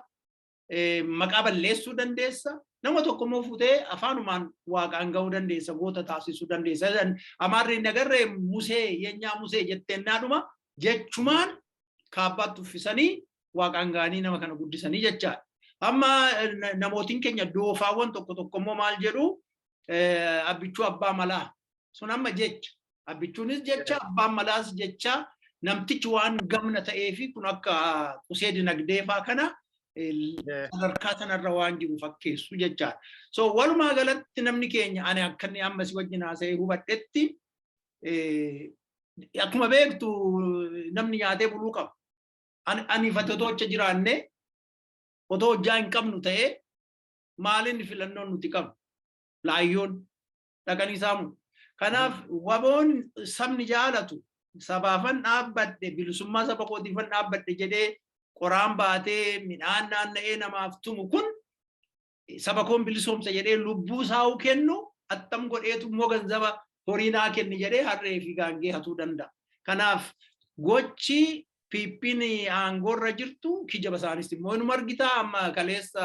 maqaa balleessuu dandeessa. Nama tokko immoo fuutee afaanumaan waaqaan ga'uu dandeessa, goota taasisuu dandeessa. Amaarri hin agarree musee, yeenyaa musee jetteen naadhuma jechumaan kaabbaatti uffisanii waaqaan ga'anii nama kana guddisanii jechaadha. Amma namootiin keenya doofaawwan tokko tokko immoo maal jedhu abbichuu abbaa malaa sun amma jecha Abbichuunis jecha abbaan malaas jecha namtichi waan gamna ta'ee fi kun akka qusee dinagdee faa kana sadarkaa sanarra waan jiru fakkeessu jechaadha. So walumaa galatti namni keenya ani akka inni amma si wajjin haasa'ee hubadhetti akkuma beektu namni nyaatee buluu qaba. Ani fatotoocha jiraanne otoo hojjaa hin qabnu ta'ee maaliin filannoon nuti qabnu laayyoon dhaqanii saamu. Kanaaf waboon sabni jaalatu sabaafan dhaabbadhe bilisummaa saba kootiifan dhaabbadhe jedhee qoraan baatee midhaan naanna'ee namaaf tumu kun saba koon bilisoomsa jedhee lubbuu saawuu kennu attam godheetu immoo ganzaba horii naa kenni jedhee harree fi gaangee hatuu danda'a. Kanaaf gochi PPn aangoo irra jirtu kijaba isaanis immoo inuma argitaa amma kaleessa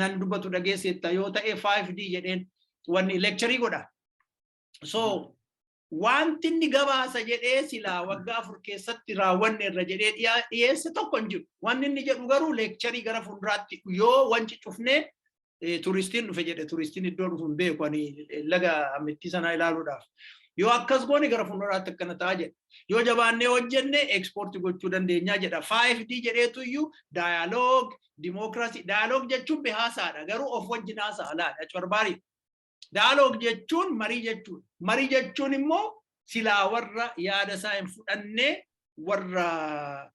nan dubbatu dhageesseetta yoo ta'e 5D jedheen wanni lekcharii godha. So wanti inni gabaasa jedhee silaa waggaa afur keessatti raawwanne irra jedhee dhiyeesse tokko hin jiru. Wanni inni jedhu garuu lekcharii gara fuulduraatti yoo wanci cufnee turistiin dhufe jedhe turistiin iddoo dhufu hin beeku ani laga ammittii sanaa ilaaluudhaaf. Yoo akkas goone gara fuulduraatti akkana ta'a jedha. Yoo jabaannee hojjenne ekspoortii gochuu dandeenyaa jedha. 5D jedheetu iyyuu daayaloog, dimookiraasii, daayaloog jechuun behaasaadha garuu of wajjin haasa'a laadha. Corbaariidha. Daaloog jechuun marii jechuudha. Marii jechuun immoo silaa warra yaada isaa hin fudhanne warra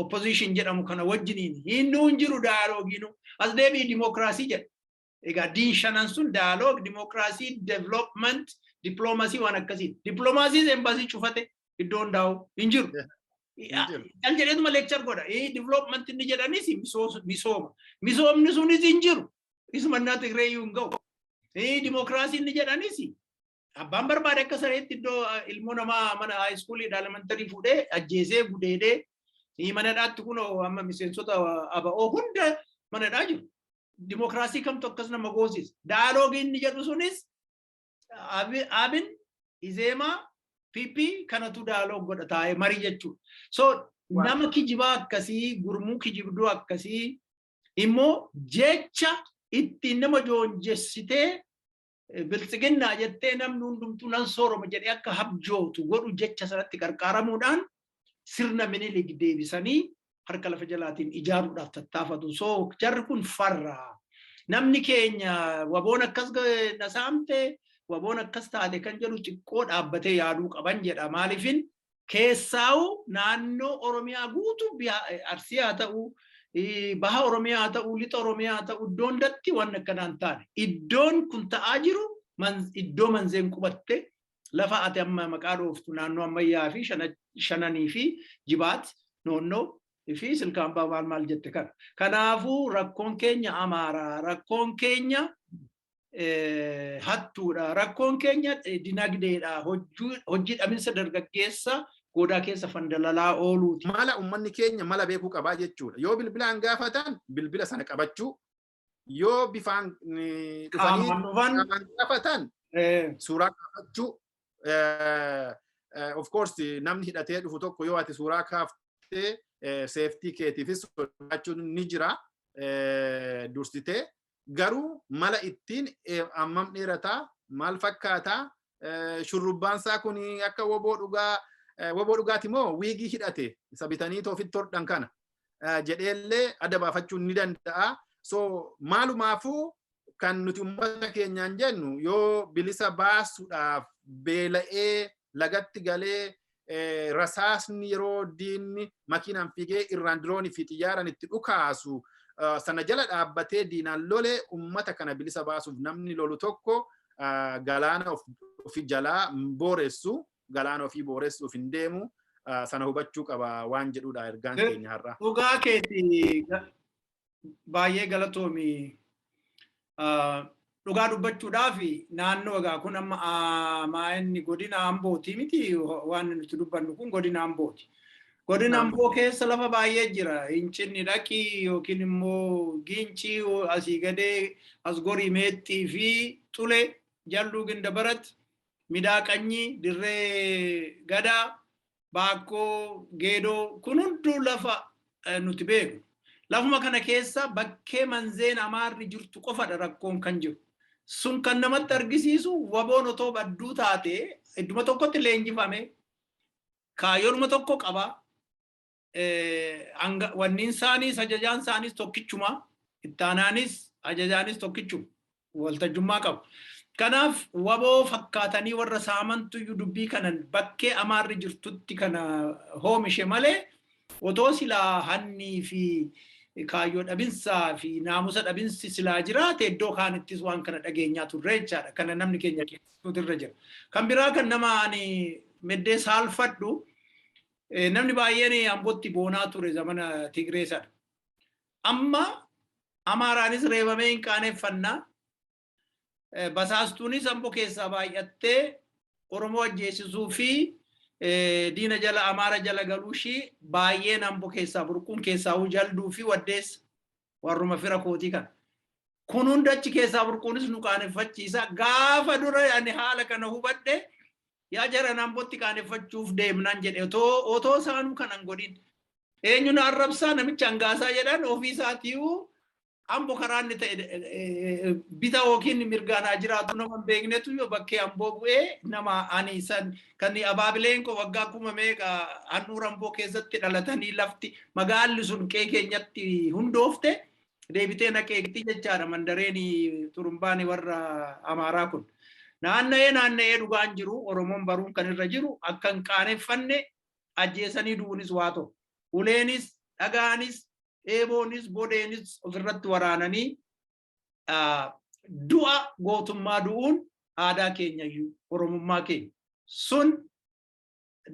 opposition jedhamu kana wajjiniin hinnuu hin jiru daaloogiinu as deebi'i dimookiraasii jedha. Egaa diin shanan sun daaloog dimookiraasii development diploomasii waan akkasii diplomaasiis embaasii cufate iddoo hundaa'u hin jiru. Kan jedheetuma leekchar godha. Development inni jedhanis misooma. Misoomni sunis hin jiru. Isumannaa Tigree iyyuu hin ga'u. Eh, Dimookiraasii inni jedhanis abbaan barbaade akka sareetti iddoo ah, ilmoo namaa mana haayiskuulii elementarii fuudhee ajjeesee gudeedee eh, mana hidhaatti kun amma miseensota aba'oo hunda mana hidhaa jiru. Dimookiraasii kamtu akkas nama goosisa. Daaloogii inni jedhu sunis Abi- Abin, Izeemaa, PP kanatu daaloog godha taa'ee marii jechuudha. So nama kijibaa akkasii gurmuu kijibduu akkasii immoo jecha ittiin nama joonjessitee biltsiginnaa jettee namni hundumtuu nan sooroma jedhee akka habjootu godhu jecha sanatti qarqaaramuudhaan sirna minilig deebisanii harka lafa jalaatiin ijaaruudhaaf tattaafatu. So jarri kun farra. Namni keenya waboon akkas na saamte waboon akkas taate kan jedhu xiqqoo dhaabbatee yaaduu qaban jedha. Maaliifin Keessaawuu naannoo Oromiyaa guutuu Arsii haa ta'u, Baha Oromiyaa haa ta'u, Lixa Oromiyaa haa ta'u iddoo hundatti waan akkanaa hin taane. Iddoon kun ta'aa jiru iddoo manzeen qubatte lafa ati amma maqaa dhooftu naannoo ammayyaa fi shananii fi jibaat noonnoo fi silkaambaa maal maal jette kana. Kanaafuu rakkoon keenya Amaaraa, rakkoon keenya hattuudha. Rakkoon keenya dinagdeedha. Hojii dhaminsa dargaggeessa goodaa keessa fandalalaa ooluuti. Mala uummanni keenya mala beekuu qabaa jechuudha. Yoo bilbilaan gaafatan bilbila sana qabachuu, yoo bifaan dhufanii qaamaan gaafatan suuraa kaafachuu, of course namni hidhatee dhufu tokko yoo ati suuraa kaaftee seeftii keetiifis sodaachuun ni jira dursitee garuu mala ittiin ammam dheerata maal fakkaata shurrubbaan isaa kun akka woboo dhugaa woboo dhugaati moo wiigii hidhate isa bitanii toofitti hodhan kana jedheellee adda baafachuu ni danda'a. So maalumaafuu kan nuti uummata keenyaan jennu yoo bilisa baasuudhaaf beela'ee lagatti galee rasaasni yeroo diinni makiinaan fiigee irraan diroonii fi xiyyaaraan itti dhukaasu sana jala dhaabbatee diinaan lole ummata kana bilisa baasuuf namni lolu tokko galaana ofi jalaa booressu galaana ofii booressuuf hin deemu sana hubachuu qaba waan jedhudha ergaan keenya har'a. Dhugaa keeti baay'ee galatoomi dhugaa dubbachuudhaaf naannoo egaa kun amma maa'inni godina ambooti miti waan nuti dubbannu kun godina ambooti. Godina amboo keessa lafa baay'ee jira. Hincinni dhaqii yookiin immoo giincii asii gadee as gorii meexxii fi xule jalluu ginda barat midaaqanyii dirree gadaa Baakkoo, Geedoo kun hunduu lafa nuti beeknu. Lafuma kana keessa bakkee Manzeen Amaarri jirtu qofadha rakkoon kan jiru. Sun kan namatti argisiisu waboon otoo badduu taate idduma tokkotti leenjifame kaayyoonuma tokko qaba. Wanniin isaaniis ajajaan isaaniis tokkichuma. Ittaanaanis ajajaanis tokkichuma. waltajjummaa qabu. Kanaaf wbo fakkaatanii warra saamantuyyuu dubbii kanan bakkee Amaarri jirtutti kana hoomishe malee otoo silaa hannii fi kaayyoo dhabinsaa fi naamusa dhabinsi silaa jiraate iddoo kaanittis waan kana dhageenyaa turre jechaadha. Kana namni keenya keessattuu irra jira. Kan biraa kan nama ani meddee saalfadhu namni baay'een Ambootti boonaa ture zamana Tigree sana. Amma Amaaraanis reebamee hin qaaneffannaa. Basaastuunis ambo keessaa baay'attee Oromoo ajjeesisuu fi diina jala Amaara jala galuu ishii baay'een ambo keessaa burquun keessaa huu jalduu fi waddeessa warruma fira kootii kana. Kun hunda achi keessaa burquunis nu qaaneffachiisa. Gaafa dura ani haala kana hubadhe Yaa jaran Ambotti qaaneffachuuf deemnaan jedhe otoo otoo isaanuu kan hin godhin. Eenyu na arrabsaa namicha hangaasaa jedhan ofii isaatiiyyuu Ambo karaa inni ta'e eh, bita yookiin mirgaan haa jiraatu nama hin beeknetu yoo bakkee Amboo bu'ee nama ani san kan abaabileen koo waggaa kuma meeqa handhuura Amboo keessatti dhalatanii lafti magaalli sun qee keenyatti hundoofte deebitee naqeegti jechaadha mandareen xurumbaan warra amaaraa kun. Naanna'ee naanna'ee dhugaan jiru Oromoon baruun kan irra jiru akka hin qaaneffanne ajjeesanii du'uunis waa tokko. Uleenis, dhagaanis, eeboonis, bodeenis ofirratti waraananii du'a gootummaa du'uun aadaa keenya iyyuu Oromummaa keenya. Sun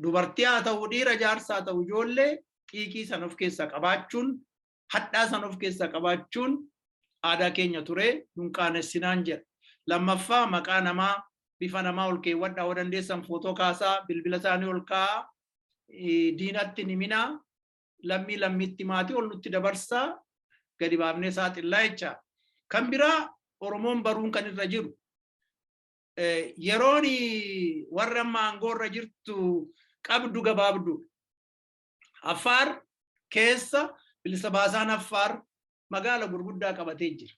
dubartii haa ta'u dhiira jaarsa haa ta'u ijoollee xiiqii sana of keessaa qabaachuun hadhaa san of keessaa qabaachuun aadaa keenya turee nun qaanessinaan jedha. Lammaffaa maqaa namaa bifa namaa ol keewwadhaa yoo dandeessan footoo kaasaa bilbila isaanii ol kaa'aa diinatti hin himinaa lammii lammiitti maatii ol nutti dabarsaa gadi baafnee saaxillaa jecha. Kan biraa Oromoon baruun kan irra jiru yeroon warra amma aangoo irra jirtu qabdu gabaabdu. Affaar keessa bilisa baasaan Affaar magaala gurguddaa qabatee jira.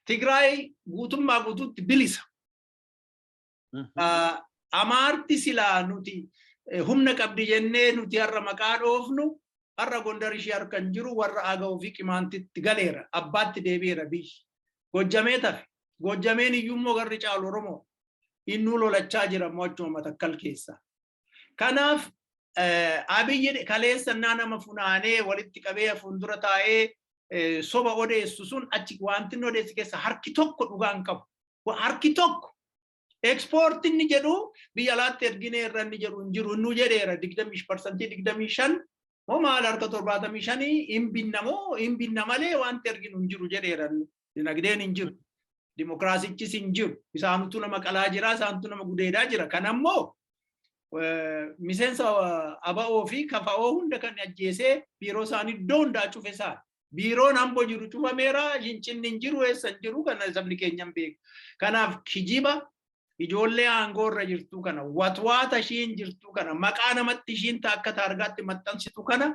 Tigraay guutummaa guutuutti bilisa. Amaarti silaa nuti humna qabdi jennee nuti har'a maqaa dhoofnu har'a Gondar ishee harka hin jiru warra Agaw fi Qimaantitti galeera abbaatti deebi'eera biyyi. Gojjamee tafe. Gojjameen iyyuu immoo garri caalu Oromoo. Innuu lolachaa jira immoo achuma matakkal keessa. Kanaaf abiyyi kaleessannaa nama funaanee walitti qabee fuuldura taa'ee soba odeessu sun achi wanti inni odeessi keessa harki tokko dhugaan qabu. Harki tokko ekspoortii inni jedhu biyya alaatti erginee irra inni jedhu hin jiru inni jedheera digdamii parsantii digdamii shan moo maal harka torbaatamii shanii hin binna moo hin binna malee wanti erginu hin jiru jedheera inni. Dinagdeen hin jiru. Dimokiraasichis hin jiru. Isaantu nama qalaa jira, isaantu nama gudeedaa jira. Kan ammoo miseensa aba'oo fi kafa'oo hunda kan ajjeesee biiroo isaanii iddoo hundaa cufe isaan. Biiroon amboo jiru cufameera, hincinni hin jiru, eessa hin jiru, kana sabni keenya hin beeku. Kanaaf kijiba ijoollee aangoo irra jirtu kana, watwaata ishiin jirtu kana, maqaa namatti ishiin akka taargaatti maxxansitu kana